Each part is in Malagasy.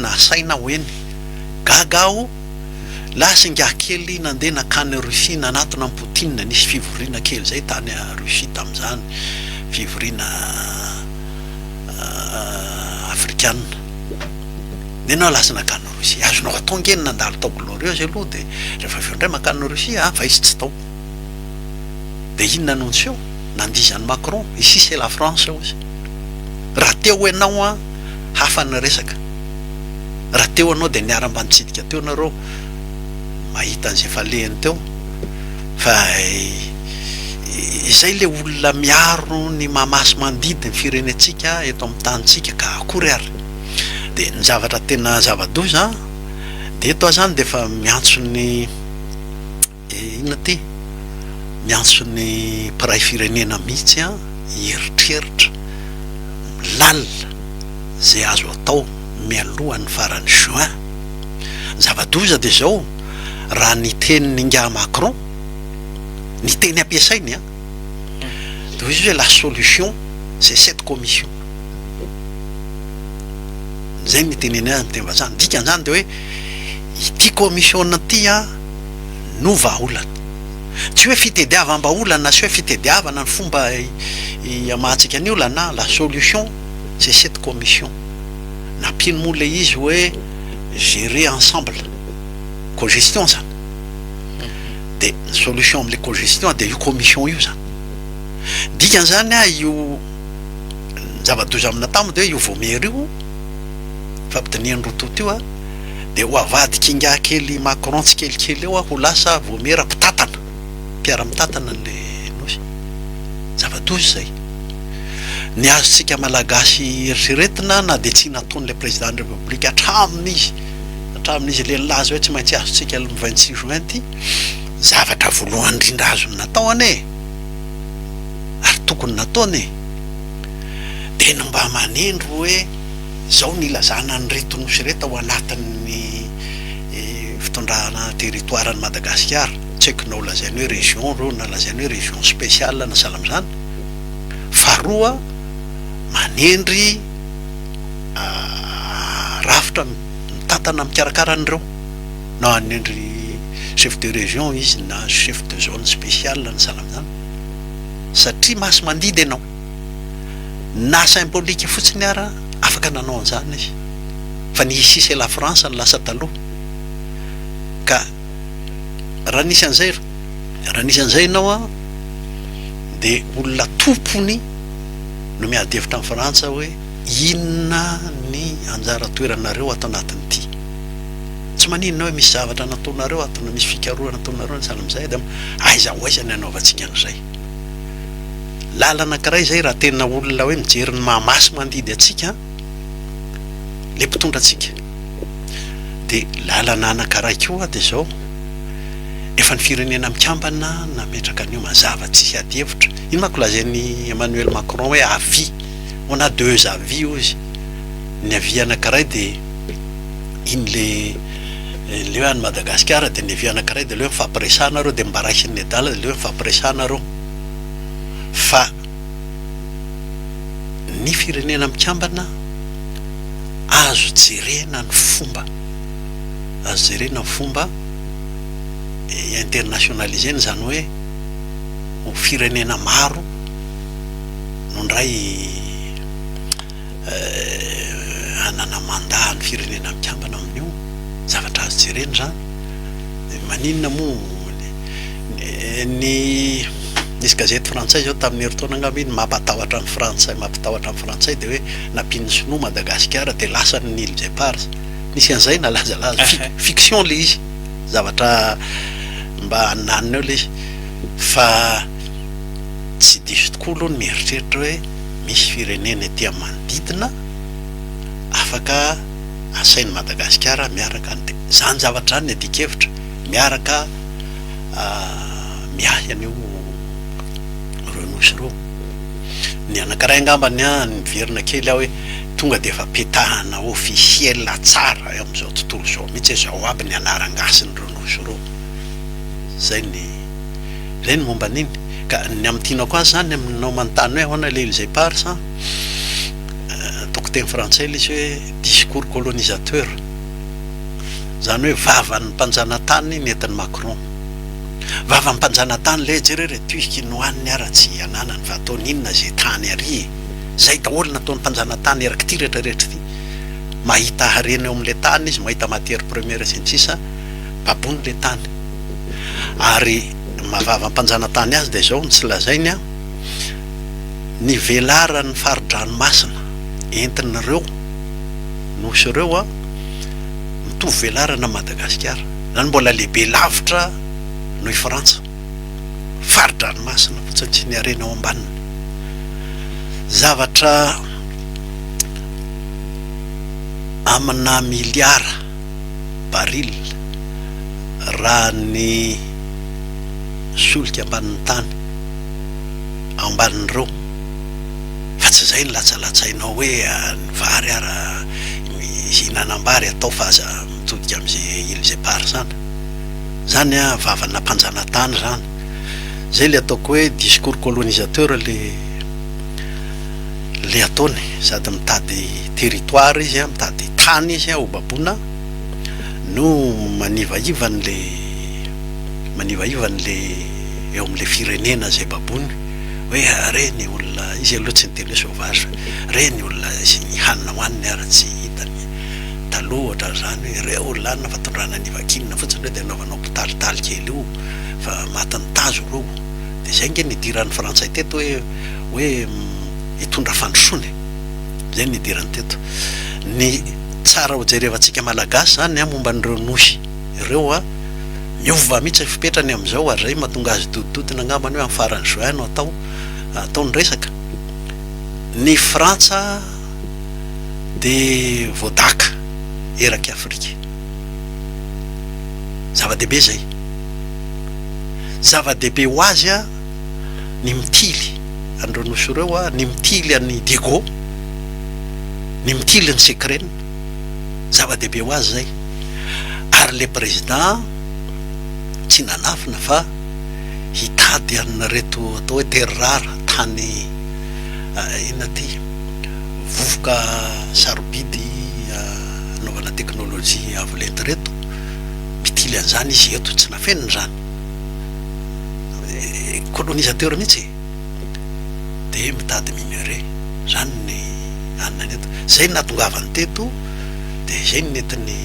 nasaina aho eny. Gaga aho. Lasa ingahy kely nandeha nankany Russie nanatona an'i Poutine. Nisy fivoriana kely izay tany Russie tamin'izany, fivoriana afrikana. Dia ianao lasa nankany Russie. Azonao atao ange ny nandalo tao Glorieuse aloha dia rehefa avy eo indray mankany Russie an! Fa izy tsy tao. Dia inona no niseho? Nandiza an'i Macron, ici c'est la France hozy. Raha teo ianao an, hafa ny resaka. Raha teo ianao dia niaramba nitsidika teo nareo mahita an'izay efa lehiny teo. Fa izay ilay olona miaro ny maha sy mandidy ny firenentsika eto amin'ny tanintsika ka akory ary. Dia ny zavatra tena zava-doza dia eto aho izany dia efa miantso ny. Eh inona ty? Miantso ny mpiray firenena mihitsy an i eritreritra, lalina ze azo atao mialoha ny faran'ny juin. Ny zava-doza dia izao, raha ny tenin'ingahy Macron, ny teny ampiasainy an, dia izy hoe la solution c'est cette commission. Izay no iteneniny azy amin'ny teny vazaha. Ny dikan'izany dia hoe ity commission ity an. no vahaolana. Tsy hoe fitediavam-bahaolana na tsy hoe fitediavana ny fomba iamahantsika ny olana, la solution c'est cette commission. Nampiany moa ilay izy hoe gérer ensemble, cogestion izany. Dia ny solution amin'ilay cogestion dia io commission io izany. Ny dikan'izany io, ny zava-doza aminà tamo dia hoe io voamiera io, fampidinihan'i Rototo io, dia ho avadik'ingahy kely Macron tsikelikely eo aho ho lasa voamiera mpitantana, mpiara-mitantana an'ilay Nosy. Zava-doza izay. Ny azontsika Malagasy eritreretina na dia tsy nataon'ilay Président-n'ny République hatramin'ny izy, hatramin'ny izy le nilaza hoe tsy maintsy azontsika le vingt six juin ity, zavatra voalohany indrindra azony natao anie e! ary tokony nataony e! dia ny mba manindry hoe, Izao no ilazana an'ireto nosy ireto ao anatin'ny fitondrana territoire an'i Madagasikara, tsy haiko na ho lazaina hoe région ireo na lazaina hoe région spéciale na sahala amin'izany, faharoa manendry rafitra mitantana mikarakara an'ireo na hanendry chef de région izy na chef de zone spéciale na sahala amin'izany satria masimandidy ianao. Na symbolique fotsiny ara afaka nanao an'izany izy fa ny ici c'est la France no lasa taloha ka raha nisy an'izay raha nisy an'izay ianao an de olona tompony no miady hevitra amin'i Frantsa hoe inona ny anjara toeranareo ato anatin'ity tsy maninona hoe misy zavatra nataonareo ato na misy fikarohana ataonareo na sahala amin'izay de aiza ho aiza ny hanaovantsika an'izay. lalana anakiray izay raha tena olona hoe mijery ny maha maso mandidy antsika le mpitondra antsika de lalana anankiray koa de zao efa ny firenena mikambana nametraka an'io mazava tsy hisy ady hevitra iny manko lazain'i Emmanuel Macron hoe avis on a deux avis hoy izy ny avis anankiray de iny le Aleo any Madagasikara dia levio anankiray dia aleo mifampiresahana arô dia mba raisin'ny nedala dia aleo mifampiresahana arô fa ny firenena mikambana azo jerena ny fomba azo jerena ny fomba internationalisena izany hoe ho firenena maro no ndray hanana mandat any firenena mikambana amin'io, zavatra azo jerena izany, maninona moa ny nisy gazety frantsay izao tamin'ny herintaona angamba iny mampatahotra ny frantsay mampitahotra ny frantsay dia hoe nampian'ny sinoa Madagasikara dia lasany ny îles éparses, nisy an'izay nalazalaza, fiction ilay izy, zavatra mba hananina eo ilay izy fa tsy diso tokoa aloha ny mieritreritra hoe. misy firenena ety amin'ny manodidina afaka asain'i Madagasikara miaraka dia izany zavatra izany ny adikevitra miaraka miahy an'io ireo nosy ireo. Ny anankiray angamba ny ahy niverina kely aho hoe tonga dia efa petahana officiel tsara eo amin'izao tontolo izao mihitsy hoe izao aby ny anaran-gasin'ireo nosy ireo. Izay ny. Zay ny momba an'iny. Ka ny amin'ny tianao koa zany aminao manontany hoe ahoana ilay ilzay pars an, ataoko teny frantsay ilay izy hoe discours colonisateur. Zany hoe vavan'ny mpanjanatany nentin'i Macron. Vavan'ny mpanjanatany lé, jereo re tuisk iny hoaniny ara tsy ananany fa ataony inona izay tany ary e. Zay daholo nataon'ny mpanjanatany eraky ity rehetra rehetra ity. Mahita harena eo amin'ilay tany izy, mahita matière première sy ny sisa, babony ilay tany. ary mahavava ampanjanatany azy dia izao no tsy lazainy an, ny velaran'ny fari-dranomasina entin'ireo nosy ireo an, mitovy velarana amin'i Madagasikara, izany mbola lehibe lavitra noho i Frantsa, fari-dranomasina fotsiny sy ny harena ao ambaniny. Zavatra amina miliara. baril, raha ny solika ambanin'ny tany ao ambanin'ireo, fa tsy izay no latsalatsainao hoe ny vary ara, mihinanam-bary atao fa aza mitodika amin'izay îles éparses any. Izany an, vavana mpanjanatany izany. Izay ilay ataoko hoe discours colonisateur ilay. le ataony sady mitady territoire izy an, mitady tany izy an hobaboina no manivaiva ny le manivaiva ny le eo amin le firenena zay baboiny hoe re ny olona izy aloha tsy niteny hoe sauvage re ny olona izy ny hanina hoaniny ary tsy hitany taloha ohatran zany hoe re olona any fa tondrana any vakinina fotsiny reo de anaovanao mpitalitaly kely io fa matin'ny tazo reo de zay nge nidiran'ny frantsay teto hoe hoe hitondra fandrosoana e! Izay no idirany teto. Ny tsara hojerevantsika Malagasy izany an, momba an'ireo Nohy ireo an, miova mihitsy ny fipetrany amin'izao ary izay mahatonga azy dodidodina angamba ny hoe amin'ny faran'ny juin no atao, atao ny resaka. Ny Frantsa dia voadaka erak'i Afrika. Zava-dehibe izay. Zava-dehibe ho azy an. ny mitily an'ireo nosy ireo, ny mitily an'i Diego, ny mitily an'i Sekrena, zava-dehibe ho azy izay. Ary ilay prezidà tsy nanafina fa hitady an'ireto atao hoe terres rares, tany inona ity, vovoka sarobidy anaovana teknolojia avo lenta ireto, mitily an'izany izy. Eto tsy nafenina izany. colonisateur mihitsy e! dia mitady minerais, izany ny anona ny eto, izay no nahatongavany teto dia izay no nentiny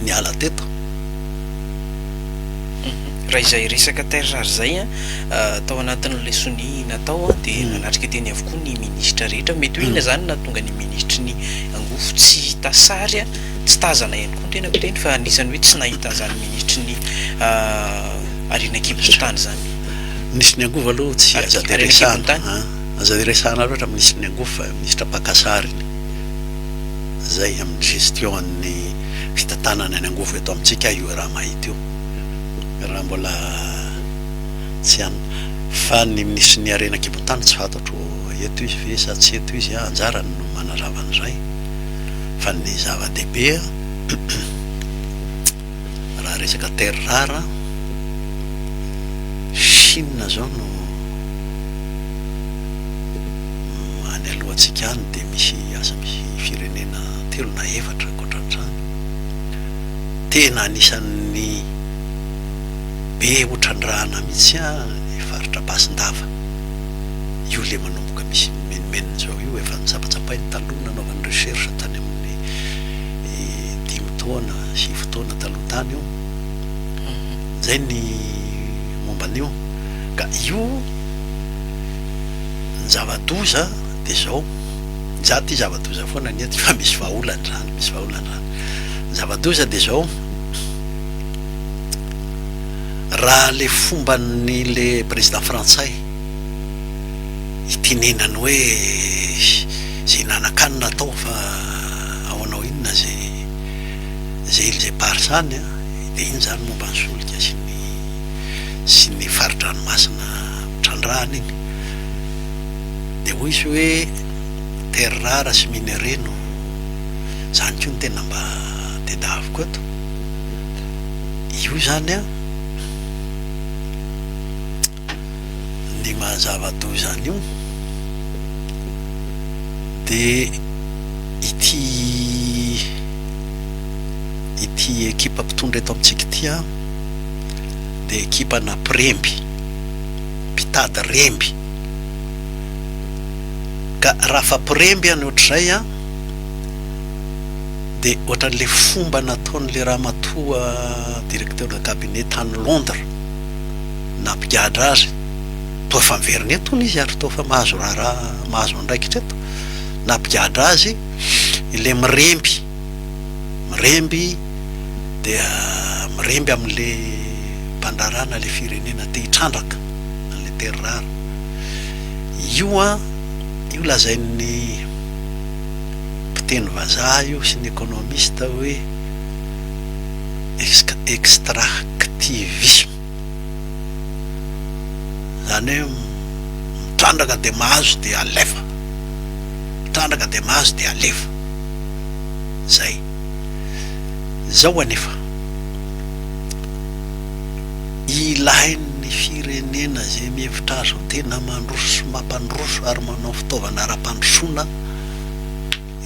niala teto. Raha izay resaka terres rares izay an, tao anatin'ilay sonia natao an, dia nanatrika teny avokoa ny ministra rehetra, mety hoe inona izany no nahatonga ny ministry ny angofo tsy hita sary an? Tsy tazana ihany koa ny tenako teny fa anisan'ny hoe tsy nahita an'izany minitry ny ariana an-kibon'ny tany izany. Minisitry ny angovo aloha tsy aza dia resahana an! Aza dia resahana loatra minisitry ny angovo fa minisitra mpaka sariny izay amin'ny gestion an'ny fitantanana ny angovo eto amintsika io raha mahita io raha mbola tsy an! Fa ny minisitry ny harena an-kibon'ny tany tsy fantatro eto izy ve sa tsy eto izy an! Anjarany no manazava an'izay. Fa ny zava-dehibe raha resaka terres rares, Chine izao no any alohantsika any dia misy asa misy firenena telo na efatra ankoatran'izany, tena anisan'ny be otrandrahana mihitsy ny faritra Ampasindafa, io ilay manomboka. Ka misy ny menomenony zao io efa notsapatsapahiny taloha nanaovany recherche tany aminy dimy taona sivy taona taloha tany io zay ny momba anio ka io ny zava doza de zao za ty zava doza foana anie ty fa misy vahaolany zany misy vahaolany zany ny zava doza de zao raha le fombany le président frantsay ity nenany hoe ze hinanan-kanina atao fa ahoana ho inona ze ze il ze par zany an, dia iny zany momba ny solika sy ny sy ny fari-dranomasina trandrahana iny dia hoy izy hoe terres rares sy minerais no zany koa no tena mba tedaviko eto io zany an, ny maha zava-doza an'io dia ity ity ekipa mpitondra eto amintsika ity an, dia ekipana mpiremby, mpitady remby, ka raha afa mpiremby any ohatr'izay an, dia ohatran'ilay fomba nataon'ilay ramatoa directeur de cabinet tany Londres. nampigadra azy toa efa miverina eto hono izy ary toa efa mahazo raharaha mahazo andraikitra eto, nampigadra azy ilay miremby, miremby dia miremby amin'ilay mpandraharaha na ilay firenena te hitrandraka an'ilay terrara. Io an, io lazain'ny mpiteny vazaha io sy ny economiste hoe extractivisme. Izany hoe mitrandraka dia mahazo dia alefa, mitrandraka dia mahazo dia alefa. Izay. Izao anefa, ilain'ny firenena izay mihevitra azy ho tena mandroso sy mampandroso ary manao fitaovana ara-pandrosoana,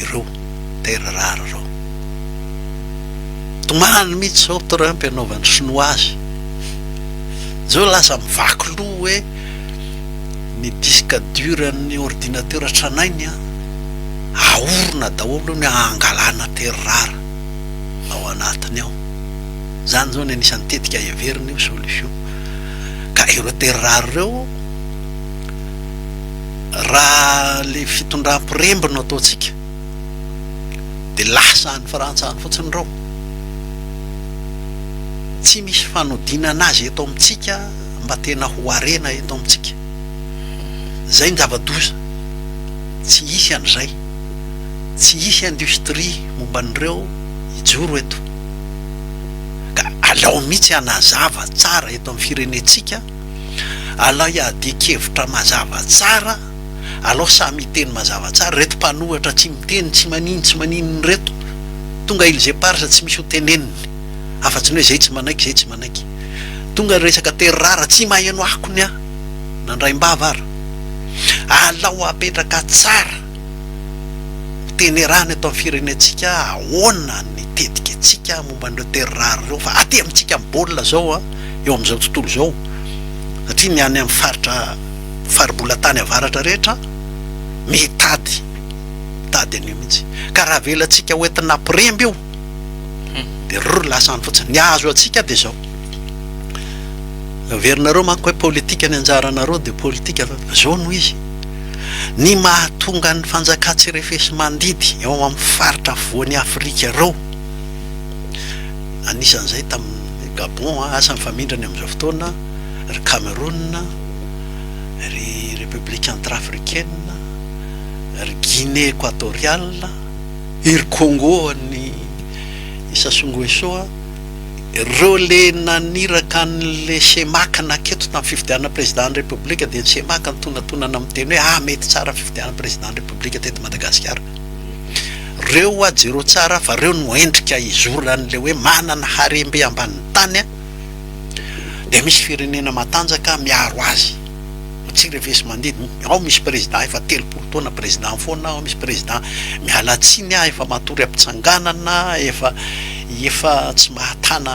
ireo terres rares ireo. Tomany mihitsy izao Trump anaovan'ny sinoa azy. Izao lasa mivaky loha hoe ny disque dur an'ny ordinateur tranainy ahorona daholo hono hangalana terres rares ao anatiny ao. Izany izao no anisan'ny tetika heveriny ho solution. Ka ireo terres rares ireo. Raha ilay fitondram-piremby no ataontsika dia lasa any Frantsa any fotsiny ireo. Tsy misy fanodinana azy eto amintsika mba tena ho harena eto amintsika. Izay no zava-doza. Tsy hisy an'izay. Tsy hisy industrie momba an'ireo hijoro eto. Ka aleo mihitsy hanazava tsara eto amin'ny firenentsika. Alay adin-kevitra mazava tsara alao samy hiteny mazava tsara reto mpanohatra tsy miteny tsy manino tsy maninona reto tonga ils eparses tsy misy ho teneniny afatsy ny hoe zay tsy manaiky zay tsy manaiky tonga resaka terrara tsy maheno akony ah nandraimbava ary alao apetraka tsara ho tenerana eto amin'ny firenentsika ahoana ny tetika antsika momba an'ireo terrara ireo fa aty amintsika amin'ny baolina zao ah. eo amin'izao tontolo izao satria ny any amin'ny faritra faribola tany avaratra rehetra mitady mitady an'io mihitsy ka raha avelantsika ho entina hampiremby io dia rrr lasa any fotsiny ny azo antsika dia izao averinareo manko hoe politika ny anjaranareo dia politika fa izao no izy ny mahatonga ny fanjakan-tsirefesimandidy eo amin'ny faritra afovoan'i afrika ireo Anisan'izay tamin'ny Gabon, asa mifamindra ny amin'izao fotoana, ry Cameroun, ry République Centrafricaine, ry Guinée Equatoriale, iry Congo an'i Sassou Nguesso, ireo le naniraka an'le Cemac naketo tamin'ny fifidianana Président-n'ny République dia ny Cemac nitonantonana miteny hoe ah mety tsara ny fifidianana Président-n'ny République teto Madagasikara. Reo oa jereo tsara fa reo no endrika izoran'le hoe manana harembe ambanin'ny tany dia misy firenena matanjaka miaro azy fa tsy refesimandidy ao misy président efa telopolo taona président foana ao misy président miala tsiny ah efa matory ampitsanganana efa efa tsy mahatana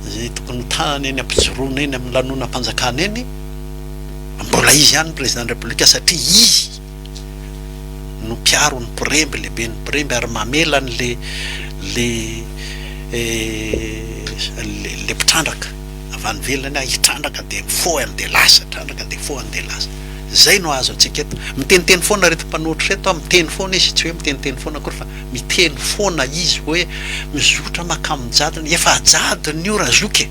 zay tokony ho tanany eny ampijoroana eny amin'ny lanonam-panjakana eny mbola izy ihany président de la république satria izy no mpiaro ny mpiremby, lehibe ny mpiremby ary mamela an' le le le mpitrandraka avy any ivelany aho hitrandraka dia mifoha any dia lasa, hitrandraka dia mifoha any dia lasa. Izay no azo antsika eto. Miteniteny foana ireto mpanohitra ireto an, miteny foana izy, tsy hoe miteniteny foana akory fa miteny foana izy hoe mizotra makamin'ny jadona. Efa jadona io ra zoky e!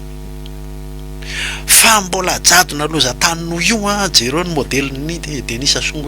Fa mbola jadona lozan-tany noho io an, jereo ny modelin'i Denisa Songo.